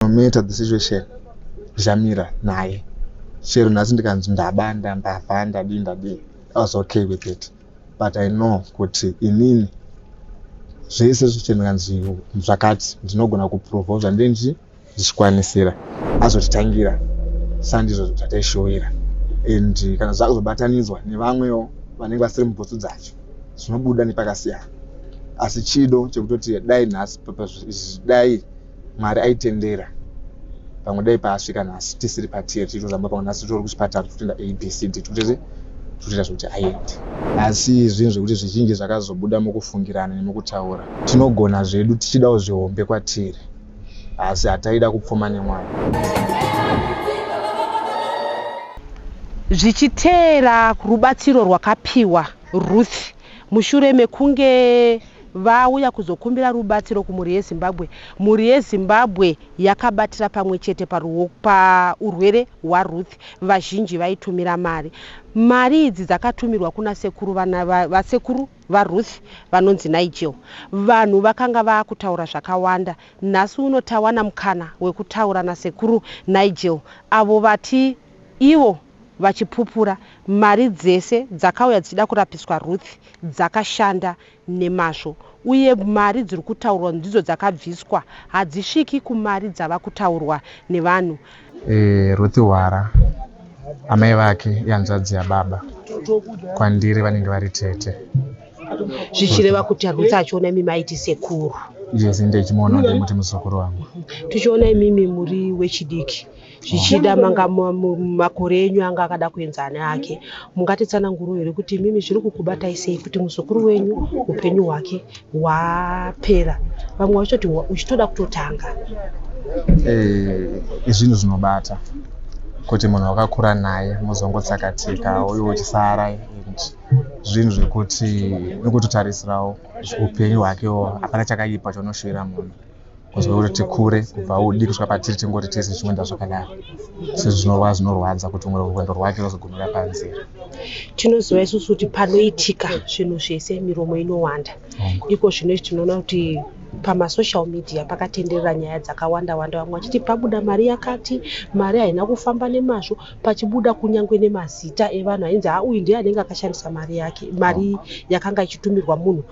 no matter the situation zvamira naye chero nhasi ndikanzi ndabanda ndavha ndadii ndadii i was okay with it but i know kuti inini zvese zviche ndikanzi zvakati ndinogona kuprova zvandiri ndichi ndichikwanisira azotitangira sandizvo zvataishowira and kana zvakuzobatanidzwa nevamwewo vanenge vasiri mubhutsu dzacho zvinobuda nepakasiyana asi chido chekutoti dai nhasi dai Mwari aitendera pamwe dai paasvika nhasi tisiri patear tichitozamba pamwe nhasi titori kuchipatara tichitoenda abcd tikutese tikutoita zvekuti aende asi zvinhu zvekuti zvizhinji zvakazobuda mukufungirana nemukutaura tinogona zvedu tichidawo zvihombe kwatiri asi hataida kupfuma nemwana zvichiteera rubatsiro rwakapiwa ruth Mushure mekunge vauya kuzokumbira rubatsiro kumhuri yeZimbabwe, mhuri yeZimbabwe yakabatira pamwe chete paurwere hwaRuth vazhinji vaitumira mari. Mari idzi dzakatumirwa kuna sekuru vana vasekuru vaRuth vanonzi Nigel. Vanhu vakanga vaakutaura zvakawanda. Nhasi uno tawana mukana wekutaura nasekuru Nigel avo vati ivo vachipupura mari dzese dzakauya dzichida kurapiswa Ruth dzakashanda nemazvo uye mari dziri kutaurwa ndidzo dzakabviswa hadzisviki kumari dzava kutaurwa nevanhu. Eh, Ruth Hwara amai vake ihanzvadzi yababa kwandiri vanenge vari tete zvichireva kuti arutsa achiona imi maiti sekuru yes ndichimuona ndimuti muzukuru wangu tichiona imimi muri wechidiki zvichida manga makore enyu anga akada kuenza ane ake mungatitsananguro here kuti imimi zviri kukubatai sei kuti muzukuru wenyu upenyu hwake hwapera vamwe vachitoti uchitoda kutotanga eh, izvinhu zvinobata kuti munhu wakakura naye muzongotsakatika uye uchisara and zvinhu zvekuti nekutotarisirawo upenyu hwakewo hapana chakaipa chonoshuvira munhu kuziva kuti tikure kubva udi kusvika patiri tingoti tese tichikuenda zvakadaro sezvo zvinova zvinorwadza kuti umwe rwendo rwake rwozogumira panzira tinoziva isusu kuti panoitika zvinhu zvese miromo inowanda iko zvino izvi tinoona kuti pamasocial media pakatenderera nyaya dzakawanda wanda vamwe vachiti pabuda mari yakati mari haina kufamba nemazvo pachibuda kunyange nemazita evanhu ainzi hauyu ndiye anenge akashandisa mari yake mari yakanga ichitumirwa munhu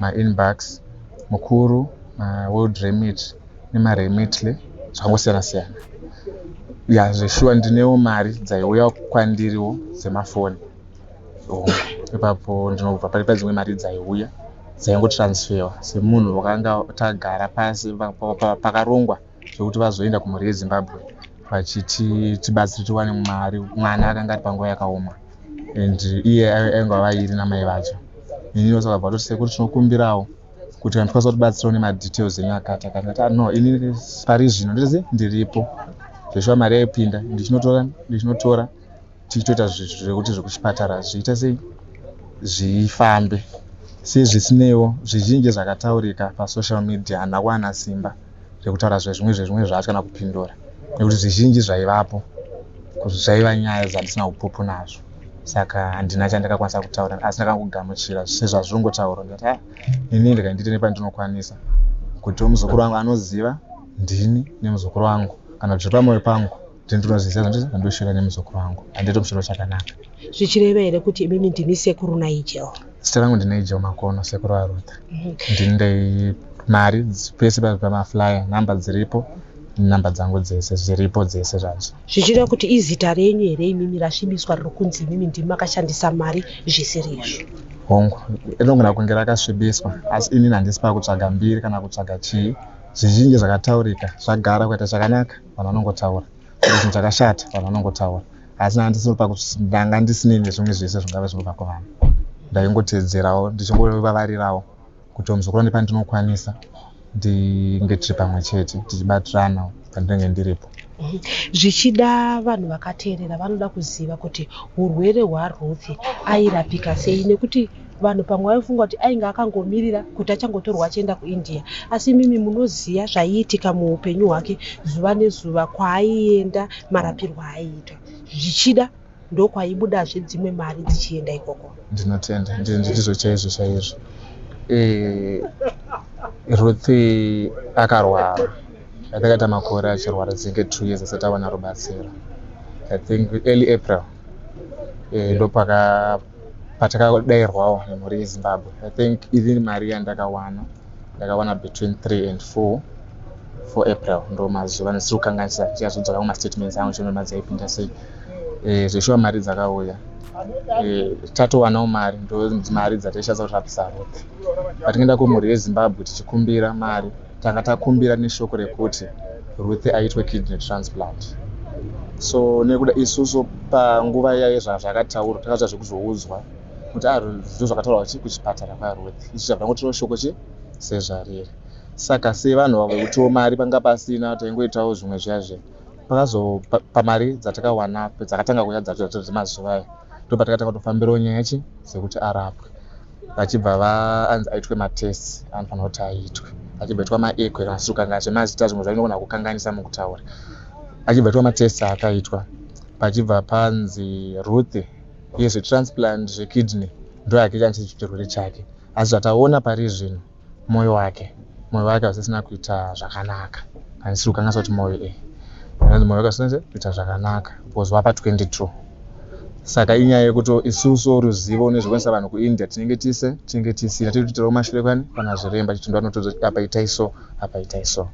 ma inbox mukuru ma world remit nema remitly zvakangosiyana siyana ya zveshuwa ndinewo mari dzaiuya kwandiriwo dzemafoni oh, ipapo ndinobva pari padzimwe mari dzaiuya dzaingotransferwa semunhu wakanga tagara pasi pakarongwa zvekuti vazoenda kumhuri yezimbabwe vachiti tibatsire tiwane mari mwana akanga ari panguva yakaoma and iye ainge avairi namai vacho ini vose vakabva vatoti sekuru tinokumbirawo kuti kana tikwanisa kutibatsirawo nemadetails enyu akati akati ati ah, no ini pari zvino ndese ndiripo zveshuwa mari yaipinda ndichinotora ndichinotora tichitoita zvekuti zvekuchipatara zviita sei zvifambe sei zvisineiwo zvizhinji zvakataurika pasocial media handina kuwana simba rekutaura zvezvimwe zvezvimwe zvacho kana kupindura nekuti zvizhinji zvaivapo zvaiva nyaya dzandisina upupu nazvo saka handina chandakakwanisa kutaura asi ndakangogamuchira sezvazvinongotaurwa ndikati ha ini ndikaindiite nepandinokwanisa kuti muzukuru wangu anoziva ndini nemuzukuru wangu kana kuti zviri pamoyo pangu tinotonoziza kuti ndoshora nemuzukuru wangu handito mushoro chakanaka zvichireva here kuti imimi ndimi sekuru naijel zita rangu ndinaijel makono sekuru arutha mhm. ndinde mari pese pamaflyer namba dziripo namba dzangu dzese zviripo dzese zvacho zvichireva kuti izita renyu here imimi rasvibiswa riri kunzi imimi ndimi makashandisa mari zvisiri izvo hongu inogona kunge rakasvibiswa asi inini handisi pakutsvaga mbiri kana kutsvaga chii zvizhinji zvakataurika zvagara kuita chakanaka vanhu vanongotaura kuti chinhu chakashata vanhu vanongotaura asi nanga ndisiri pakuti ndanga ndisine nezvimwe zvese zvingave zvinobva kuvanhu ndaingoteedzerawo ndichingovavarirawo kuti muzukuru ane pandinokwanisa ndinge tiri pamwe chete tichibatirana pandinenge ndiripo zvichida vanhu vakateerera vanoda kuziva kuti urwere hwaruth airapika sei nekuti Vanhu pamwe vaifunga kuti ainge akangomirira kuti achangotorwa achienda kuIndia, asi imimi munoziva zvaiitika muupenyu hwake zuva nezuva, kwaaienda, marapirwo aaiitwa, zvichida ndokwaibudazve dzimwe mari dzichienda ikoko. Ndinotenda, ndizvo chaizvo chaizvo. Eh, Ruth akarwara atakaita makore achirwara dzenge two years asati awana rubatsiro i think early april eh, ndopaka patakadairwawo nemhuri yezimbabwe i think even mari yandakawana ndakawana between 3 and 4 for april ndo mazuva ndisiri kukanganisa chiazodzoka kumastatements angu chino mari dzaipinda sei eh, zveshuwa mari dzakauya eh, tatowanawo mari ndo mari dzataishadza kuti rapisa rothe patingaenda kumhuri yezimbabwe tichikumbira mari tanga takumbira neshoko rekuti Ruth aitwe kidney transplant so nekuda isusu panguva iya yezvazvakataurwa takazva zvekuzoudzwa kuti a ah, zvinhu zvakataurwa chi kuchipatara kwaruth isu chabva ngotiwo shoko chi sezvariri saka sevanhu vavo vekutiwo mari panga pasina taingoitawo zvimwe zviya zve pakazopamari dzatakawana dzakatanga kuya dzacho dzemazuva ayo ndopatakatanga kutofambirawo nyaya chi dzekuti arapwe vachibva vaanzi aitwe matests anofanira kuti aitwe achibva itwa maekwe kana sukanga zvemazita zvimwe zvainogona kukanganisa mukutaura achibva itwa matests akaitwa pachibva panzi ruth iye zvetransplant zvekidney ndo yake chanisechirwere chake asi zvataona pari zvino moyo wake moyo wake hausisina kuita zvakanaka handisi kukanganisa kuti moyo e anonzi moyo wake hausinze kuita zvakanaka because wapa 22 saka inyaya yekuti isusu ruzivo nezvekuendesa vanhu kuindia tinenge tise tinenge tisina tiri kuitirawo mashure kwani kana zviremba chitindo anotoza apa itai so apa itai so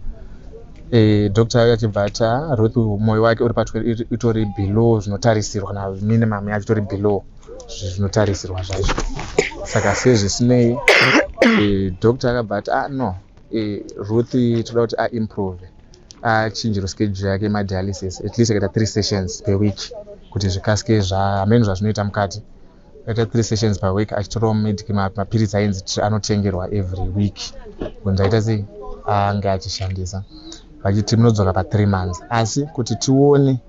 e, eh, doctor ayo achibva ati ah, ruth moyo wake uri pa itori below zvinotarisirwa na minimum yacho itori below zvinotarisirwa zvacho saka sezvisinei eh, doctor akabva ati ah no eh, ruth toda kuti aimprove achinjiro schedule yake madialysis at least akaita three sessions per week kuti zvikasike zvaamene zvazvinoita mukati akaita three sessions per week achitorawo medic mapiritsi ainzi anotengerwa every week kunzi aita sei ange achishandisa vachiti munodzoka pathree months asi kuti tione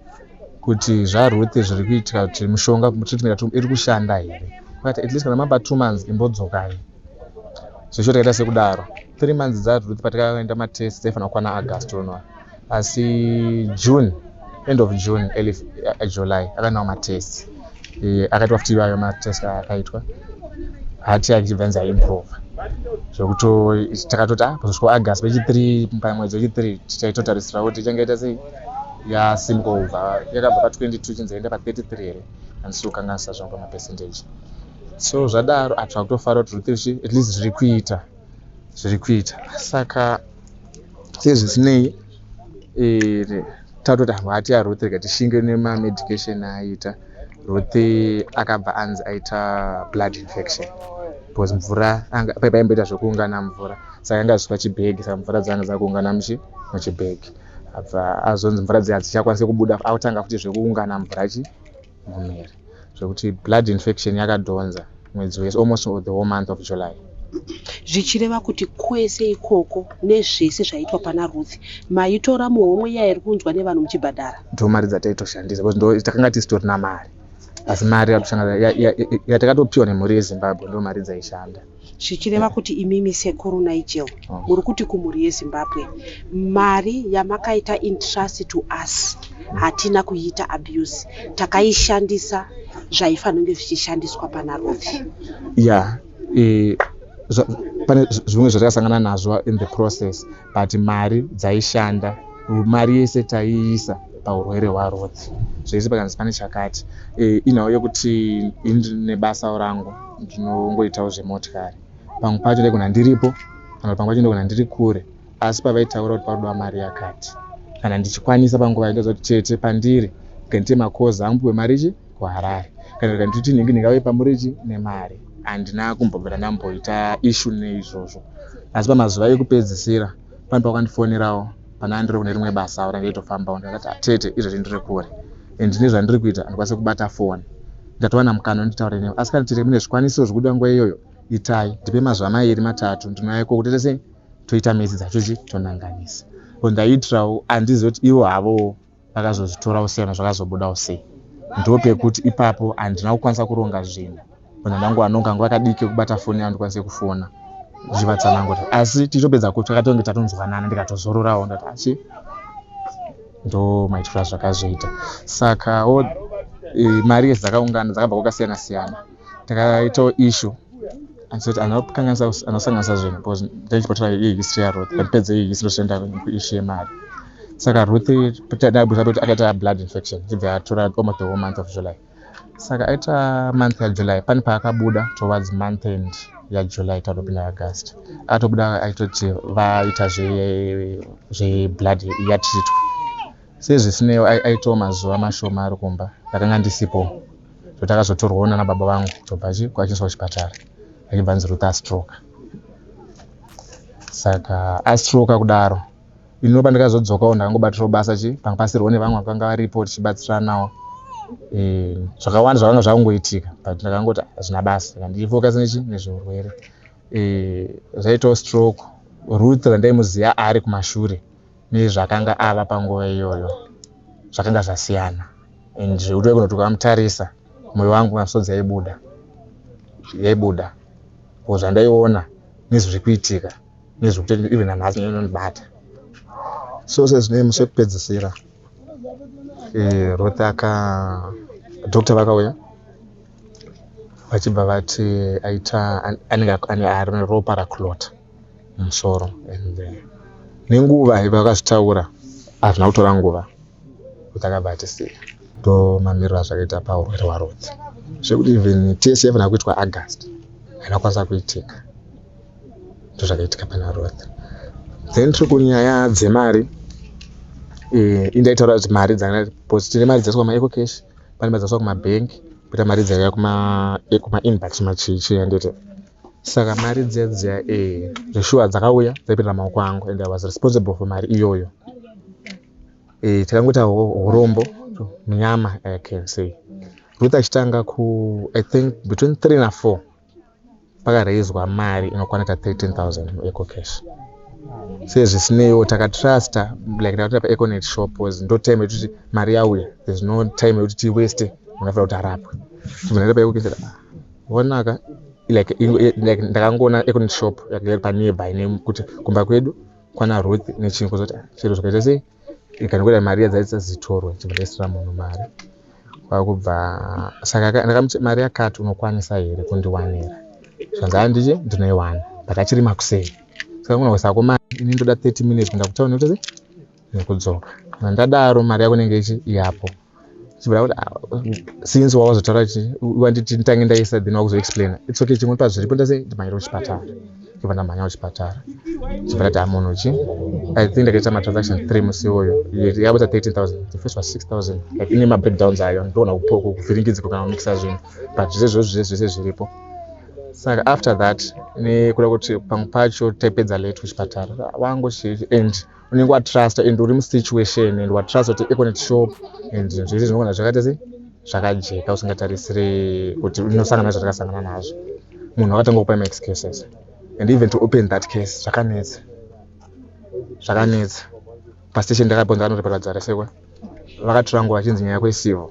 kuti zvaRuth zviri kuitika kuti mushonga treatment yatiri iri kushanda here but at least kana mapa two months imbodzokai zvesho takaita sekudaro three months dzaRuth patakaenda matest dzaifanira kukwana August unoa asi June end of June early uh, July akanawo matest eh, akaitwa futi iwayo matest akaitwa hati achibva nzi aimprove zvekuti takatoti ah, pazosvika August vechi three pamwedzi wechi three tichaitotarisira kuti ichangaita sei yasimuka kubva yakabva pa 22 chinzi yaenda pa 33 here handisi kukanganisa zvangu pamapercentage so zvadaro atsva kutofara kuti ruth zvi at least zviri kuita zviri kuita saka sezvisinei eh, tatoti hangu hati yaruth rega tishinge nemamedication aaita ruth akabva anzi aita blood infection because mvura paipaimboita zvekuungana mvura saka yanga zviswa chibhegi saka mvura dzanga dzakuungana muchibhegi apa azonzi mvura dziya dzichakwanise kubuda akutanga futi zvekuungana mvura chi mumiri zvekuti blood infection yakadhonza mwedzi wese almost the whole month of july zvichireva kuti kwese ikoko nezvese zvaitwa pana ruth maitora muhomwe iya iri kunzwa nevanhu muchibhadhara ndo mari dzataitoshandisa bcause ndo takanga tisitorina mari asi mari yatakatopiwa nemhuri yezimbabwe ndo mari dzaishanda Zvichireva kuti imimi sekuru Nigel muri kuti kumhuri yeZimbabwe mari yamakaita intrust to us hatina kuiita abuse takaishandisa zvaifanonge zvichishandiswa pana Ruthi. Yeah, eh, zva, pane zvimwe zvatakasangana nazvo in the process but mari dzaishanda mari yese taiisa paurwere hwaRuth zvese pakanzi pane chakati e, inhau yekuti ini ndinebasa rangu ndinongoitawo zvemotikari pamwe pacho ndaigona ndiripo kana pamwe pacho ndaigona ndiri kure asi pavaitaura kuti parudiwa mari yakati kana ndichikwanisa panguva ndoziva kuti chete pandiri ngenite makozi angu piwe mari chi kuharare kana kuti handiti nhingi nhingi auye pamuriji nemari handina kumbombera ndamboita ishu neizvozvo asi pamazuva ekupedzisira pane pakandifonerawo pane andiri kune rimwe basa awo range itofambawo ndakati atete ah, izvozvi ndiri kure and ndine zvandiri kuita handikwanise kubata foni ndatowana mukana nditaure newe asi kana tete mune zvikwanisiro zvekuda nguva iyoyo itai ndipe mazuva mairi matatu ndinouya ikoko tete sei toita midzi dzacho chi tonanganisa ko ndaitirawo handizive kuti ivo havowo vakazozvitorawo sei kana zvakazobudawo sei ndo pekuti ipapo handina kukwanisa kuronga zvinhu kana ndangu anonga nguva kadiki kubata foni yangu ndikwanise kufona zvivatsanangura asi tichitopedza kuti takatonge tatonzwanana ndikatozororawo ndati asi ndo maitiro azvakazoita saka e, mari yedzi dzakaungana dzakabva kwakasiyana siyana takaitawo issue asati anokanganisa anosanganisa zvinhu because ndine chipotora iyi history yaruth but pedze iyi history toenda kuissue yemari saka ruth tadabudisa kuti akaita blood infection chibva yatura almost the whole month of july saka aita month yajuly pane paakabuda towards month end yajuly tatopinda august atobuda aitoti vaita zveblood yatritwa sezvisineiwo aitawo mazuva mashoma ari kumba ndakanga ndisipo so takazotorwawo nana baba vangu tobva kwachiiswa kuchipatara achibva anzi ruta astroka saka astroka kudaro inopa ndikazodzokawo ndakangobatirawo basa chi panga pasirwo nevamwe vakanga varipo tichibatsiranawo eh, zvakawanda zvakanga zvakungoitika but ndakangoti hazvina basa ndichifocus nechi nezveurwere eh, zvaitawo stroke ruth randaimuziva ari kumashure nezvakanga ava panguva iyoyo zvakanga zvasiyana and zvekutove kunoti ukamutarisa mwoyo wangu misodzi yaibuda yaibuda ko zvandaiona nezviri kuitika nezviri kutoita even nanhasi inondibata so sezvinei musi wekupedzisira eh, ruth aka doctor vakauya vachibva vati aita anenge ane ropa raclota musoro and uh, nenguva vakazvitaura hazvina kutora nguva kutakabva atisiya to mamiriro azvakaita paurwere hwarodzi zvekuti even tese yafanira kuitwa august haina kwanisa kuitika ndo zvakaitika pana roth then tiri kunyaya dzemari eh, indaitaura kuti mari dzaaus tine mari dzaiswa kumaeco cash pane mari dzaiswa kumabhengi kuita mari dzaiya kumainbox machichi anditi Saka mari dziya dziya eh zveshuwa dzakauya dzaipinda maoko angu and I was responsible for mari iyoyo. Eh takangoita horombo munyama I can say. Ruth achitanga ku I think between 3 na 4 pakaraizwa mari inokwana ka 13000 eco cash. Sezvisineiwo takatrusta like takatoita pa econet shop was ndo time yekuti mari yauya there's no time yekuti tiwaste muna kuti arapwe. Tibva ndaita pa eco cash. vonaka like like ndakangoona ekuti shop yake panearby name kuti kumba kwedu kwana ruth nechinhu kuzoti ah, chero zvakaita sei ikandikuita mari yadzaitsa zitorwe chibudisira munhu mari kwakubva saka ndakamuti mari yakati unokwanisa here kundiwanira zvanzi handiti ndinoiwana but achiri makusei saka kuna kusako mari ini ndoda 30 minutes kunda kutaura nekuti sei nekudzoka kana ndadaro mari yako inenge ichi yapo chibva kuti ah, since wawazotaura chi wanditi nditange ndaisa then wakuzoexplaina its okay chimwe pazviripo ndase ndimanyira kuchipatara chibva ndamhanya kuchipatara chibva ndati amunhu ah, chi i think ndakaita matransaction three musi iwoyo yakaita 13000 the first was 6000 like ine mabreakdowns ayo ndoona kuvhiringidziko kana kumixa zvinhu but zvese zvose zvese zvese zviripo saka after that nekuda kuti pamwe pacho taipedza late kuchipatara wangu chi and unenge watrusta and uri musituation and watrusta kuti econet shop and zvinhu zvese zvinogona zvakaita sei zvakajeka usingatarisiri kuti unosangana nazvo takasangana nazvo munhu akatanga kupa max cases and even to open that case zvakanetsa zvakanetsa pastation ndakaponza anotoparadzara sekwa vakatirangwa vachinzi nyaya kwesivo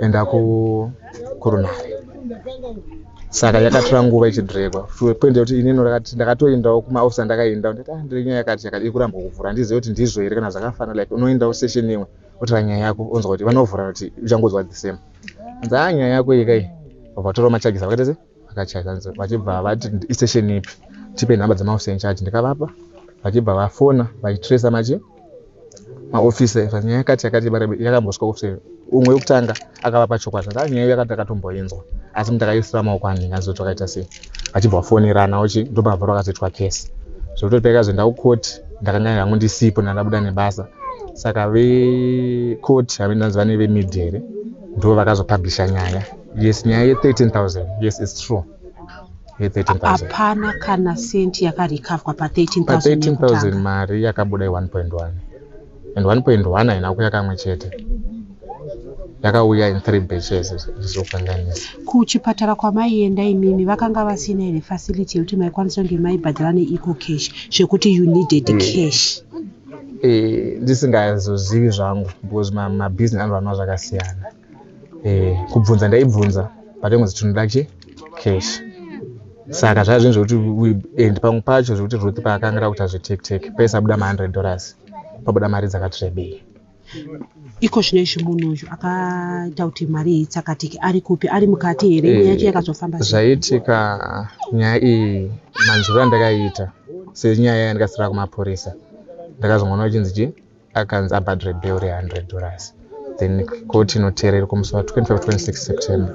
enda kurunhare saka yakatora nguva ichidhiregwa poinda kuti inini ndakatoendawo kumaofisa ndakaenda ndati ah, ndiri nyaya yakati yakati ikuramba kuvhura handizive kuti ndizvo here kana zvakafana like unoendawo session imwe otora nyaya yako onzwa kuti vanovhura kuti uchangonzwa the same nzaa nyaya yako ikai vatora machages vakatese vakachaja vachibva vati istation ipi tipe nhamba dzemaofisi enchaji ndikavapa vachibva vafona vachitresa machi maofisi efa nyaya yakati yakati yakambosvika ofisi umwe wekutanga akavapa chokwadi ndaa nyaya yakati akatomboinzwa asi muti akaisira maoko anhinga azoti wakaita sei vachibva vafonerana uchi ndopabvaro akazoitwa kesi zvekutoti paikazoenda kukoti ndakanga hangu ndisipo ndandabuda nebasa saka vekoti have ndanzi vane vemedia here ndo vakazopublisha nyaya yes nyaya ye 13000 yes its true hapana kana cent yakarikavwa pa 13000 mari yakabuda i 1.1 and 1.1 haina kuya kamwe chete yakauya in three batches zvizokanganisa kuchipatara kwamaienda imimi vakanga vasina here facility yekuti maikwanisa kunge maibhadhara neeco cash zvekuti you needed mm. cash eh, ndisingazozivi zvangu because mabusiness anoranwa zvakasiyana eh, kubvunza ndaibvunza but ingozi tinoda chi cash saka zvaa zvinhu zvekuti and pamwe pacho zvekuti ruth paakangira kuti azvitektek pese abuda ma100 dollars pabuda mari dzakatrebei iko zvino izvi munhu uyu akaita kuti mari iyi tsakatike ari kupi ari mukati here nyaya yacho eh, yakazofamba zvaitika nyaya iyi manzwiro andakaita senyaya yandikasira kumapurisa ndakazongoona uchinzi chii akanzi abhadhre bel re 100 dollars then koti inoteerera kumusi wa 25 26 september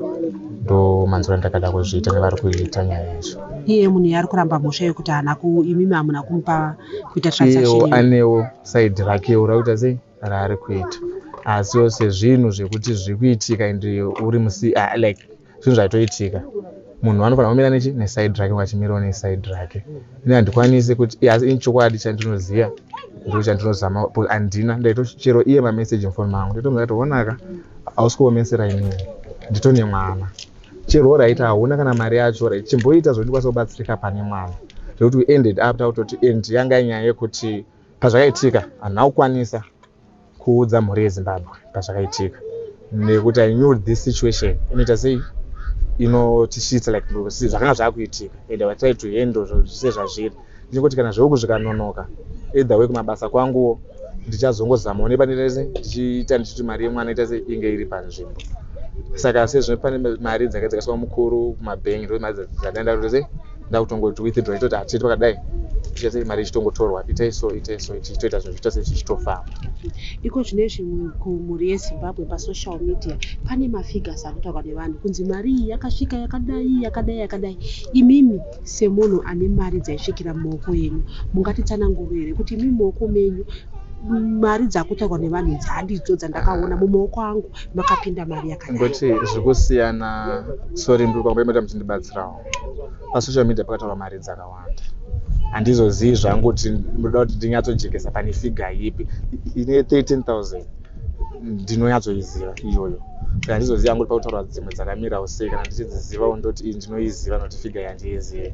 ndo manzura ndakada kuzviita nevari kuita nyaya yacho iye munhu yaari kuramba mhosva yekuti haana imimi hamuna kumupa kuita transaction anewo saidi rakewo rakuita sei raari kuita asi yose zvinhu zvekuti zviri kuitika and uri musi ah, like zvinhu zvaitoitika munhu anofanira kumira nechi neside rake vachimirawo neside rake ini handikwanisi kuti asi ini chokwadi chandinoziva ndoo chandinozama but handina ndaitochero iye mameseji mufoni mangu ndaitomzatoonaka hausi kuomesera inini ndito nemwana chero oraita hauna kana mari yacho orit chimboita zvondikwanisa kubatsirika pane mwana zvekuti we ended up takutoti and yanga nyaya yekuti pazvakaitika hanhu akukwanisa kuudza mhuri yezimbabwe pazvakaitika nekuti i knew this situation inoita sei inotisvitsa like zvakanga zvakuitika and i try to handle zvese zvazviri ndinoti kana zveku zvikanonoka either way kumabasa kwanguwo ndichazongozama one pane rese ndichiita ndichiti mari yemwana ita sei inge iri panzvimbo saka sezvino pane mari dzakaitikaiswa mukuru kumabhengi ndo mari dzandaenda kuti sei ndakutongoti withdraw itoti hatiti pakadai ichiita sei mari ichitongotorwa itai so itai so ichitoita zvinhu zvichiita sei chichitofamba iko zvine zvimwe kumhuri yezimbabwe pasocial media pane mafigures akutaurwa nevanhu kunzi mari iyi yakasvika yakadai yakadai yakadai imimi semunhu ane mari dzaisvikira mumaoko enyu mungatitsananguro here kuti imimi maoko menyu mari dzakutorwa nevanhu idzi handidzo dzandakaona mumaoko angu makapinda mari yakangoti zviri kusiyana sori ndiri kwambaimata muchindibatsirawo pasocial media pakataura mari dzakawanda handizozivi zvangu kuti ndoda kuti ndinyatsojekesa pane figa yipi ine 13000 ndinonyatsoiziva iyoyo kana ndizoziva yangu kuti pakutaura dzimwe dzakamirawo sei kana ndichidzizivawo ndoti ii ndinoiziva noti figa yandiizive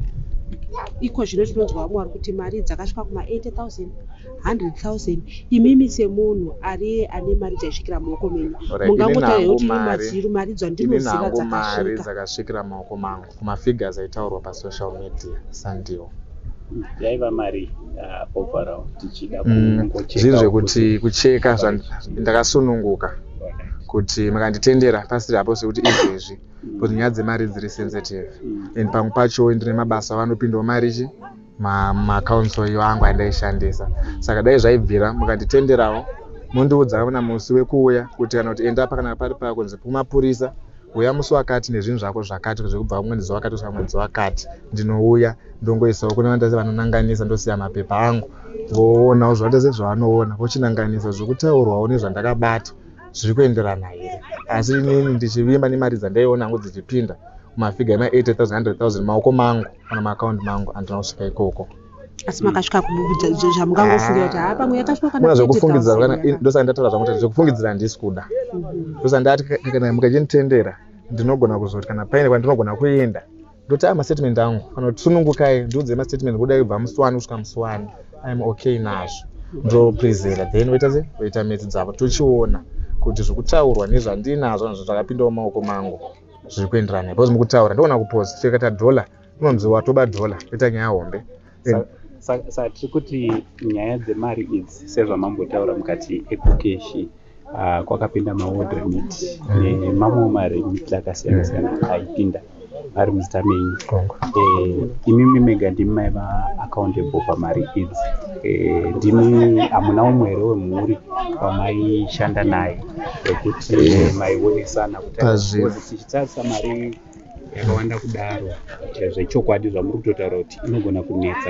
iko zvino tinonzwa vamwe vari kuti mari dzakasvika kuma 80000 100,000 imimi semunhu ariye ane mari dzaisvikira muoko menyu mungangotaura kuti ini maziru mari dzandinoziva dzakasvika dzakasvikira muoko mangu kumafigures aitaurwa pasocial media sandiwo yaiva mari uh, overall tichida mm, zvinhu zvekuti kucheka ndakasununguka kuti makanditendera pasiri apo sekuti izvezvi mm. kuti nyaya dzemari dziri sensitive mm. and pamwe pacho ndine mabasa vanopindawo mari chi maaccounts oyo angu andaishandisa saka dai zvaibvira mukanditenderawo mondiudza kana musi wekuuya kuti kana kuti enda apa kana pari paa kunzi kumapurisa uya musi wakati nezvinhu zvako zvakati zvekubva kumwedzi wakati kusvika mwedzi wakati ndinouya ndongoisawo kune vandase vanonanganisa ndosiya mapepa angu voonawo zvandase zvavanoona vochinanganisa zvekutaurwawo nezvandakabata zviri kuenderana here asi inini ndichivimba nemari dzandaiona hangu dzichipinda mafiga ema 80000 maoko mangu kana maakaunti mangu andina kusvika ikoko asi makasvika zvamungangofungira kuti haa pamwe yakasvika zvekufungidzira ndosaka ndataura zvangu kuti zvekufungidzira handisi kuda mhm. ndosaka ndati kana mukachinitendera ndinogona kuzoti kana paine kwandinogona kuenda ndoti a mastatement angu kana kuti sunungukai ndiudzei mastatement kuda kubva musi wani kusvika musi wani iam okay nazvo ndoprezera then voita se voita metsi dzavo tochiona kuti zvekutaurwa nezvandiinazvo nazvo zvakapindawo maoko mangu zviri kuenderana because mukutaura ndogona kupoza tikata dhola unonzi watoba dhola ita nyaya hombe saka tiri kuti nyaya dzemari idzi sezvamambotaura mukati ekukeshi ah, kwakapinda mawod remit nemamwewo maremit akasiyana siyana aipinda ari muzita menyu eh, imimi mega ndimi maiva accountable pamari idzi eh, ndimi hamuna umwe here wemhuri pamaishanda naye ekuti maionesana pazvinhu tichitarisa mari yakawanda kudaro zvechokwadi zvamuri kutotaura kuti inogona kunetsa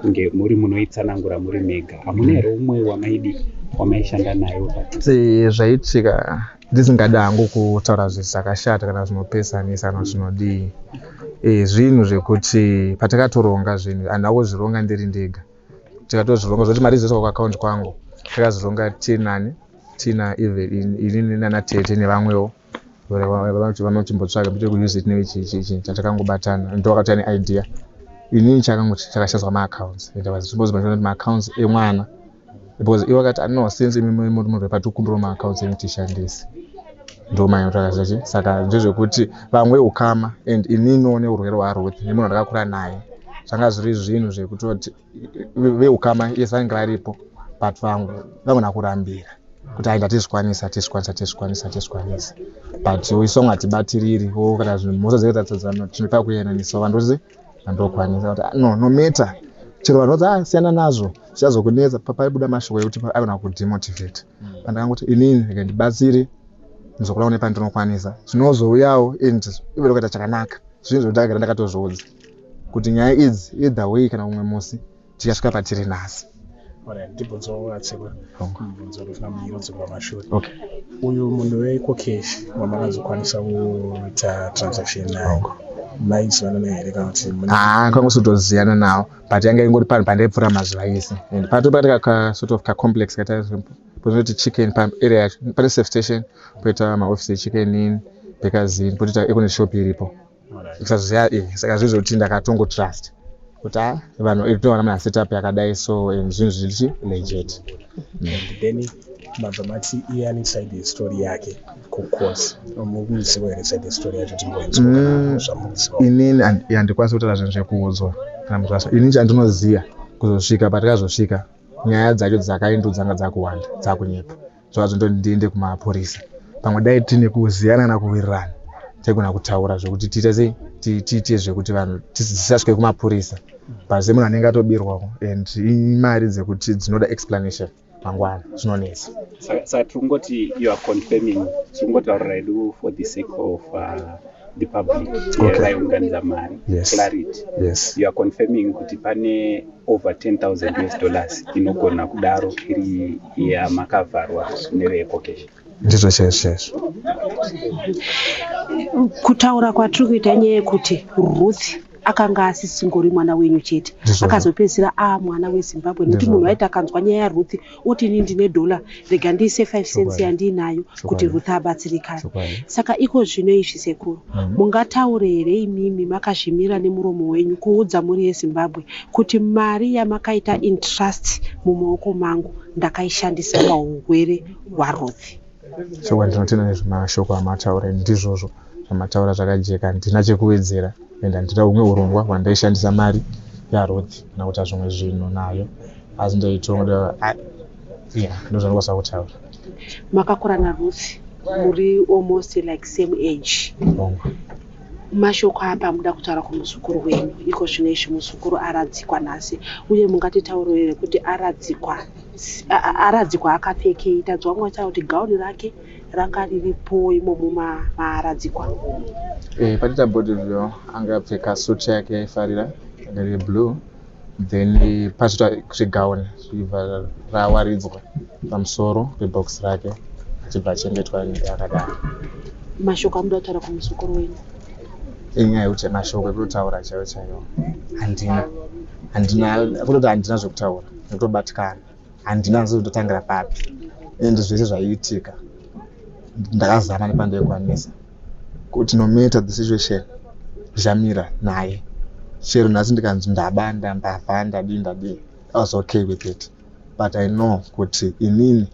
kunge muri munoitsanangura muri mega hamuna here umwe wamaidi wamaishanda nayo zvaitika ndisingada hangu kutaura zvinhu zvakashata kana zvinopesanisa kana zvinodii eh, zvinhu zvekuti patakatoronga zvinhu handina kuzvironga ndiri ndega tikatozvironga zvekuti mari dzese kwakaakaunti kwangu takazironga tinani tina evelyn inini nana tete nevamwewo vanoti vanochimbotsvaga bit yekuuse tine ichiichiichi chatakangobatana ndo vakati ane idea inini chakangoti chakashazwa maaccounts and was supposed mashona kuti maaccounts emwana because ivo vakati ah, no since imimi muri munhu vepatikumbirwa maaccounts emi tishandise ndomanya takaziva chi saka ndezvekuti vamwe ukama and inini one urwere hwaruth nemunhu andakakura naye zvanga zviri zvinhu zvekutoti veukama yes vainge varipo but vangu vangona kurambira kuti aenda tizvikwanisa tizvikwanisa tizvikwanisa tizvikwanisa but isong hatibatiriri o kana zvinhu mhosva dzee tatadzana tinopa kuyananiswa vanhu tozi vandokwanisa kuti ah, no no matter chero vanhu vodzi ah, siyana nazvo zvichazokunetsa papaibuda mashoko ekuti aigona kudemotivate pandakanga kuti inini rega ndibatsire ndizokura kune pandinokwanisa zvinozouyawo and ive ndokaita chakanaka zvinhu zvekutanga gara ndakatozviudza kuti nyaya idzi either way kana umwe musi tikasvika patiri nhasi uyu munhu wekokesh wamakanzokwanisa kuita transaction naye haa kangosotoziyana nawo but yanga ingori panhu pandaipfuura mazuva ese and pato pakati ka sort of kacomplex kataozoti chicken paarea yacho pane safe station poita maoffice echicken in bekazin potoita econet shop iripo kusaziva e eh, saka zvizotii ndakatongo trust kuti a ah, vanhu itowana mana setup yakadai so and zvinhu zvichi legit then mabva mati iye ane side yestory yake kucourse mukuziva here side yestory yacho tingoinzwamuziva mm, inini yandikwanisa kutaura zvinhu zvekuudzwa kana munhu zvasa inini chandinoziva kuzosvika patikazosvika nyaya dzacho dzakaindu dzanga dzakuwanda dzakunyepa zvazvo ndoti ndiende kumapurisa pamwe dai tine kuziyana na kuwirirana taigona kutaura zvekuti tiite sei tiite zvekuti vanhu tisasvike kumapurisa but se munhu anenge atobirwako and imari dzekuti dzinoda explanation mangwana zvinonetsa saka tiri kungoti you are confirming tiri kungotaurira hedu for the sake of uh, the public okay. vaiunganidza mari yes. clarity yes. you are confirming kuti pane over 10000 us dollars inogona kudaro iri yamakavharwa neveecocation ndizvo chaizvo chaizvo kutaura kwatiri kuita nyaya yekuti ruth akanga asisingori mwana wenyu chete akazopedzisira aa mwana wezimbabwe nekuti munhu waiti akanzwa nyaya yaruth oti ini ndine dollar rega ndiise 5 cents yandiinayo kuti Ruth abatsirikane. Saka iko zvino izvi sekuru, mm-hmm. mungataure here imimi makazvimira nemuromo wenyu kuudza mhuri yeZimbabwe kuti mari yamakaita in trust mumaoko mangu ndakaishandisa pahurwere hwaRuth? chokwadi ndinotenda nezvemashoko amataura ndizvozvo zvamataura zvakajeka handina chekuwedzera and handina humwe urongwa hwandaishandisa mari yaruth kana kuita zvimwe zvinhu nayo asi ndaitoda ya ndozvandikwanisa kutaura makakura naruth muri almost like same age mashoko apa muda kutaura kumuzukuru wenyu iko zvino izvi muzukuru aradzikwa nhasi uye mungatitaurire kuti aradzikwa Haradzi kwaakapfekei tadzwa mwacha kuti gauni rake ranga riripo imomo maaradzikwa eh, patita body ryo anga apfeka suit yake yaifarira riri blue then eh, pazoita kuti gauni zvibva rawaridzwa pamusoro pebox rake achibva achengetwa akadaro mashoko amuda kutaura kumuzukuru wenyu inyaya yekuti mashoko ekutaura chaiwo chaiwo handina handina kutoti handina zvekutaura ndotobatikana handina hanzi kuti ndotangira papi and zvese zvaiitika ndakazama nepandaikwanisa kuti no matter the situation ndichamira naye chero nhasi ndikanzi ndabanda ndava ndadii ndadii i was okay with it but i know kuti inini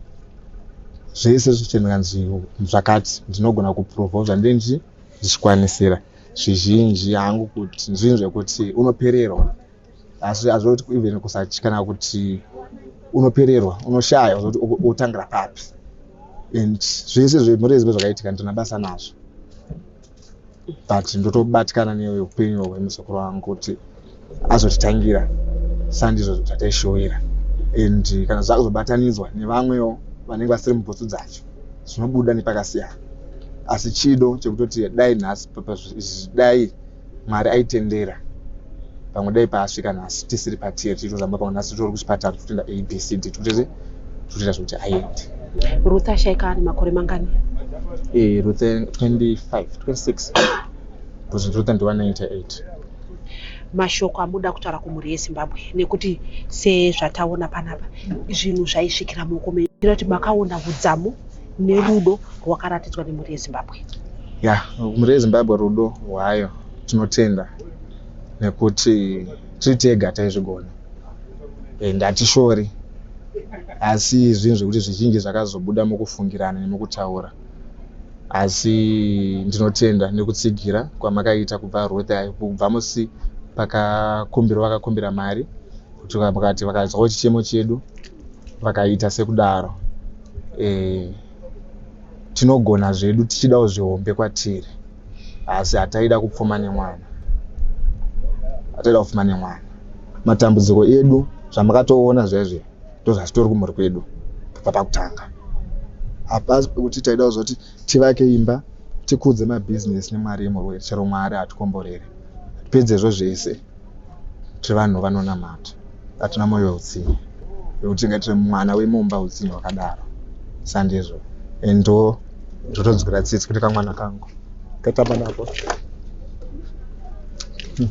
zvese zvichiendekanzi zvakati ndinogona kuprova zvandie ndichi ndichikwanisira zvizhinji hangu kuti ndizvinhu zvekuti unopererwa asi hazvoti even kusatya kana kuti unopererwa unoshaya zoti otangira papi and zvese zvemhuri yezimbe zvakaitika ndina basa nazvo but ndotobatikana neupenyu hwemuzukuru wangu kuti azotitangira sandizvo zvataishowira and kana zvakuzobatanidzwa nevamwewo vanenge vasiri mubhutsu dzacho zvinobuda nepakasiyana asi chido chekutoti dai nhasi dai Mwari aitendera pamwe dai paasvika nhasi tisiri patear tichitozamba pamwe nhasi titori kuchipatara tichitoenda abcd tikutese tikutoita zvekuti aende ruth ashaika ane makore mangani e, ruth 25 26 bcause ruth ndiwa 98 mashoko amuda kutaura kumhuri yezimbabwe nekuti sezvataona panapa zvinhu zvaisvikira muoko menyu tinoti makaona hudzamu nerudo rwakaratidzwa nemhuri yezimbabwe ya mhuri yezimbabwe rudo rwayo tinotenda nekuti tiri tega taizvigona and hatishori asi zvinhu zvekuti zvizhinji zvakazobuda mukufungirana nemukutaura asi ndinotenda nekutsigira kwamakaita kubva ruth ayo kubva musi pakakumbirwa vakakumbira mari kuti vakati vakazwawo chichemo chedu vakaita sekudaro e, tinogona zvedu tichidawo zvihombe kwatiri asi hataida kupfuma nemwana hataida kupfuma nemwana matambudziko edu zvamakatoona zvezve ndozvatitori kumhuri kwedu papa kutanga hapasi pekuti taida kuzoti Tivake imba, tikudze mabusiness nemari yemurwere chero Mwari hatikomborere. Pedzezvo zvese tiri vanhu vanonamata hatina moyo weutsinye wekuti tingaitire mwana wemumba utsinye hwakadaro. Sandizvo and ndo zvotonzwira tsitsi kuti kamwana kangu katamba nako. Hmm,